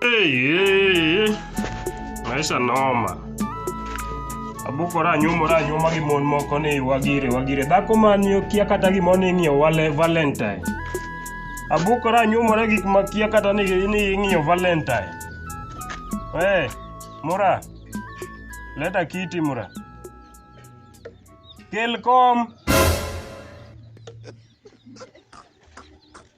Hey, maisha noma. Abuko ranyumo ranyuma gi mon moko ni wagire wagire. Dhako man yo kia kata gimo ni ing'iyo wale Valentine. Abuko ranyumore gik ma kia kata ni ni ing'iyo Valentine. Hey, Mura. Leta kiti Mura. Kel kom.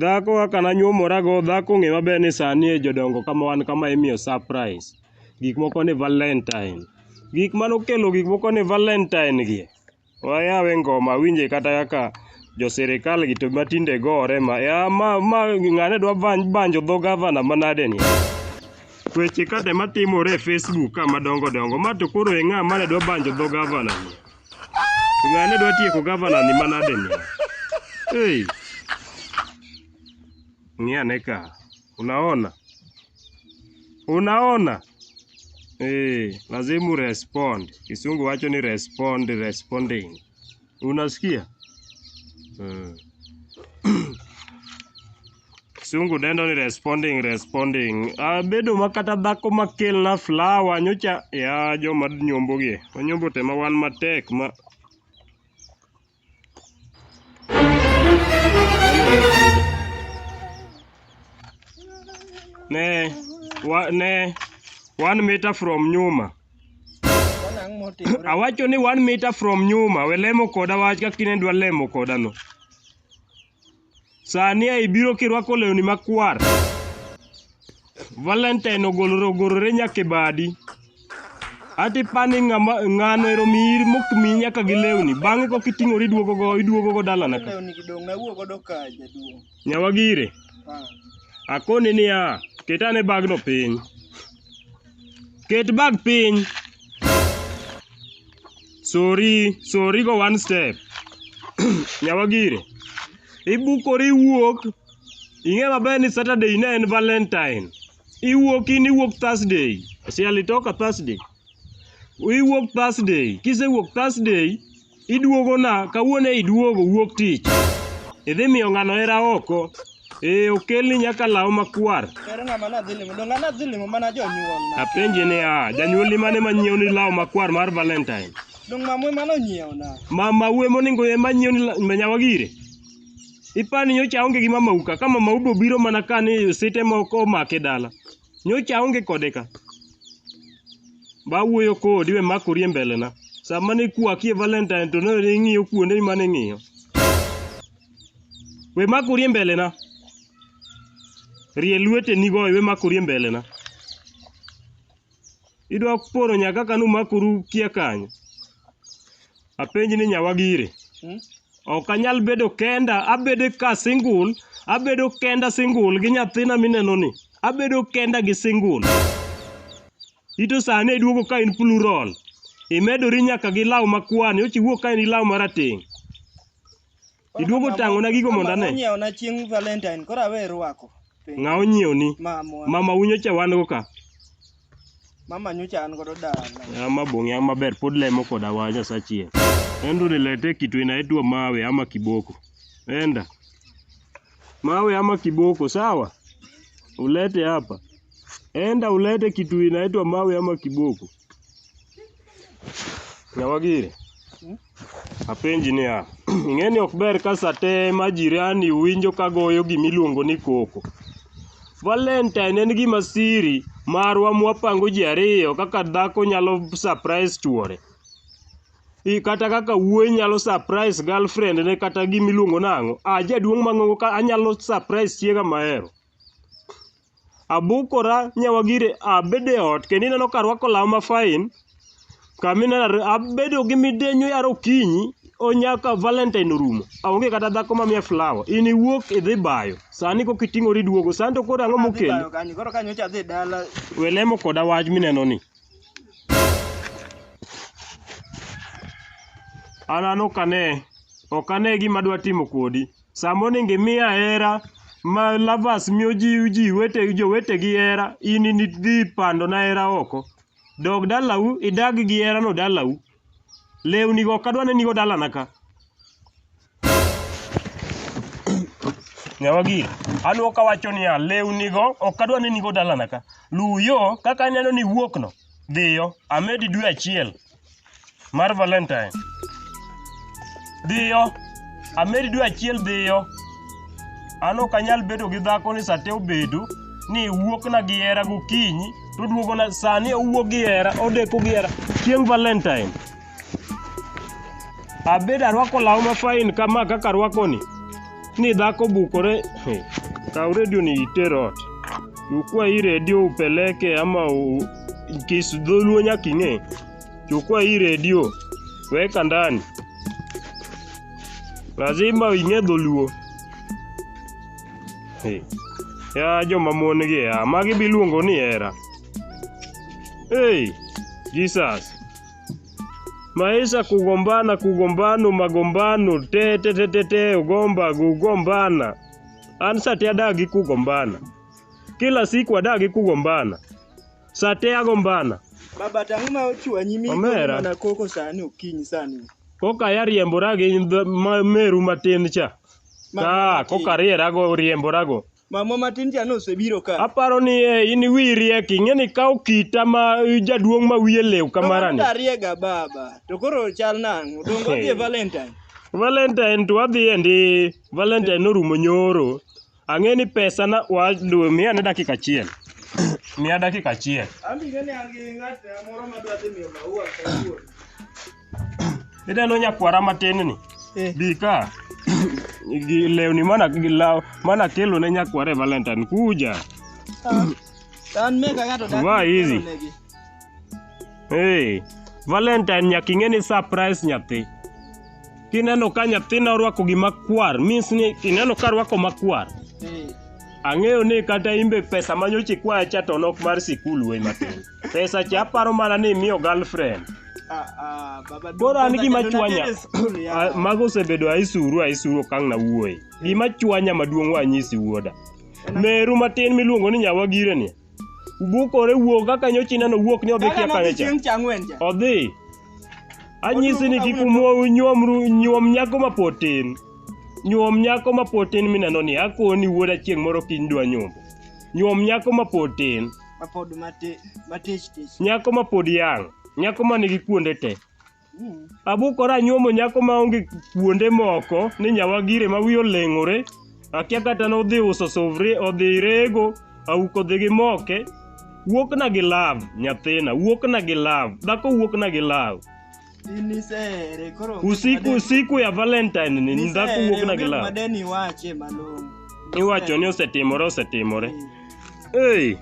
Dhako kaka nanyuomora go, dhako ng'e maber ni sani e jodongo kama wan kama imiyo surprise. Gik moko ni Valentine. Gik mane okelo gik moko ni Valentine gi, wayawe ngoma awinje kata kaka jo sirkal gi to matinde gore ma. Ya ma ma ng'ane dwa banjo dho gavana manade ni. Weche kate matimore e Facebook ka madongo dongo, ma to koro e ng'a mane dwa banjo dho gavana ni. Ng'ane dwa tieko gavana ni manade ni. Hey. Ng'iane ka. Unaona? Unaona? Eh, lazima respond. Kisungu wacho ni respond, responding. Unasikia? Eh. Kisungu dendo ni responding responding. Ah, bedo ma kata dhako ma kelna flower nyocha ya joma nyombo gi. Onyombo te ma wan matek ma Ne wa, ne one meter from nyuma. Wanang' motimore. Awacho ni one meter from nyuma, we lemo koda wach kaka inedwa lemo koda no. Sani a ibiro kirwako lewni makwar. Valentine ogolore ogorore nyaka e badi. Ati pani ng'ama ng'ano ero miyi mok miyi nyaka gi lewni. Bang'e kok iting'ori iduogo go iduogo go dalana ka. Lewni gidong' nawuo godo ka jaduong'. Nyawa gire. Ah. Akoni niya, ket ane bagno piny. Ket bag piny. Sorry, sorry go one step. Nyawagire. Ibukori iwuok. Ing'e maber ni Saturday ne en Valentine. Iwuok in iwuok Thursday. Si alitoka Thursday. Iwuok Thursday. Kisewuok Thursday, iduogo na kawuono iduogo wuok tich. Idhi miyo ng'ano hera oko. Ee, okelni nyaka law makwar. Ere ng'ama nadhi limo? Donge nadhi limo mana jonyuolna? Apenji ni a, janyuolni mane ma nyiewni law makwar mar Valentine? Donge mamwe mano nyiewna? Mama uwe moningo ema nyiewni la- ma nyawa gire? Ipani nyocha aonge gi mama uka, ka mama ubo biro mana ka ni osite moko omake dala. Nyocha aonge kode ka. Ba wuoyo kodi we makori e mbelena. Sama ne kwakie Valentine to ne ing'iyo kuonde mane ing'iyo. We mak urie mbelena. Rie lweteni go iwe mak urie mbelena. Idwa poro nya kaka numakuru kia kanyo. Apenji ni nyawa gire. Hmm? Ok anyal bedo kenda, abedo ka single, abedo kenda single gi nyathina mineno ni. Abedo kenda gi single. Ito sani iduogo ka in plural. Imedori nyaka gi law makwani, ochiwuok ka in gi law marateng'. Iduogo tang'ona gigo mondo ane. Onyiewo na chieng' Valentine, koro awe rwako. Ng'a onyiewo ni? Mamwa. Mama unyo cha wan go ka. Mama nyocha an godo dala. Ama bonge ama ber pod lemo koda wa Nyasaye. Endo nilete kitu inaitwa mawe ama kiboko. Enda. Mawe ama kiboko sawa? Ulete hapa. Enda ulete kitu inaitwa mawe ama kiboko. Nyawagiri, apenji niya, ing'e ni ok ber ka sa te ma jirani winjo ka goyo gima iluongo ni koko. Valentine en gima siri marwa mwapango ji ariyo kaka dhako nyalo surprise chuore. I kata kaka wuoyi nyalo surprise girlfriend ne kata gima iluongo nang'o, ah jaduong' mang'ongo ka anyalo surprise chiega mahero. abukora nyawa gire abedo e ot kendo ineno ka arwako law ma fine kama ineno ar- abedo gi midenyo yaro okinyi onyaka valentine orumo aonge kata dhako mamiya flower in iwuok idhi bayo sani kok iting'ori duogo sani to koro ang'o mokelo Adhi bayo kanyo, Koro kanyo cha dhi dala. welemo koda wach mineno ni an an ok ane ok ane gima dwa timo kodi Sama onego imiya hera ma lovers miyo ji ji wete jowetegi hera, in nidhi pandona hera oko. Dog dalau idag gi herano dalau. Lewnigo ok adwa nenigo dalana ka. Nyawagi, anwo kawacho niya, lewnigo ok adwa nenigo dalana ka. Luw yo kaka aneno ni iwuokno, dhiyo, amedi dwe achiel. mar Valentine. Dhiyo, ameri dwe achiel dhiyo. An ok anyal bedo gi dhako ni sate obedo ni wuokna gi hera gokinyi to duogona sani owuok gi hera odeko gi hera chieng' Valentine. Abedo arwako law mafain kama kaka arwakoni. Ni dhako bukore, eh, kaw redio ni iter ot. Chukua hii redio upeleke ama u, kis dholuo nyaka ing'e. Chukua hii redio weka ndani. Lazima ing'e dholuo. Eh, Ya joma mon gi ya, magi biluongo ni hera. Hey, Jesus. Maisha kugombana, kugombano, magombano, te te te te te, ugomba, kugombana. An sate adagi kugombana. Kila siku adagi kugombana. Sate agombana. Baba tang'o ma ochwanyi mi Omera. mana koko sani okinyi sani. Koka ariembora gi th- ma- meru matin cha. Ma- Ka matin. koka arierago riemborago. Mamwa matin cha nosebiro ka. Aparo ni eh, in wiyi riek, ing'e ni ikawo kita ma jaduong' ma wiye lew Kamano kamarani. dariega baba. To koro chal nang'o? Dongo odhi e Valentine. Valentine to wadhi endi, Valentine norumo nyoro. Ang'e ni pesa na wa dwe miya ne dakika achiel. miya dakika achiel. An ing'e ni an gi ng'at moro madwa dhi miyo maua kawuono. Ineno nyakwara matin ni? Eh. Bi ka. gi lewni mana gi law mana kelo ne nyakware Valentine kuja. Tan mega gato dak. Vaa hizi. Hey, Valentine nyaka ing'e ni surprise nyathi. Kineno ka nyathina orwako gima kwar, means ni kineno ka rwako makwar. Ang'eyo ni kata imbe pesa manyocha ikwaya cha to nok mar sikul wuoyi matin. Pesa cha aparo mana ni imiyo girlfriend. Ah, ah, baba Koro duka an za gima Jadona chwanya. Teddy School, ya. Ah, Mago osebedo aisuru aisuru okang' na wuoyi. Gima chwanya maduong' wanyisi wuoda. Meru matin miluongo ni nyawagire ni. Ubukore wuok kaka nyochi neno wuok ni odhi Kaka kia nobi kanye cha. chieng' cha ang'wen cha. Odhi. Anyisi ni kik umwo- nyuom ru- nyuom nyako mapod tin. Nyuom nyako mapod tin mineno ni akoni wuoda chieng' moro kiny dwa nyombo. Nyuom nyako mapod tin. mapod mati- matich tich nyako ma pod yang nyako ma nigi kuonde te Mm. abukora anyuomo nyako ma onge kuonde moko ni nyawagire ma wiye oleng'ore akia kata nodhi uso suvri odhi rego auko dhi gi moke wuokna gi lav nyathina wuokna gi lav dhako wuokna gi lav Inisere koro. Usiku usiku ya Valentine ni ndhako wuok na gila. Madeni wache malongo. Iwacho ni osetimore osetimore. Hey.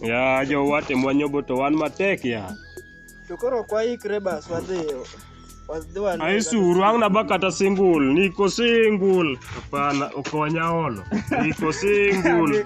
ya jowate mwanyobo to wan matek ya. To koro kwa ikre bas wadhiyo. Aisuru ang' naba kata singul, niko singul. Hapana, okonya olo. Niko singul.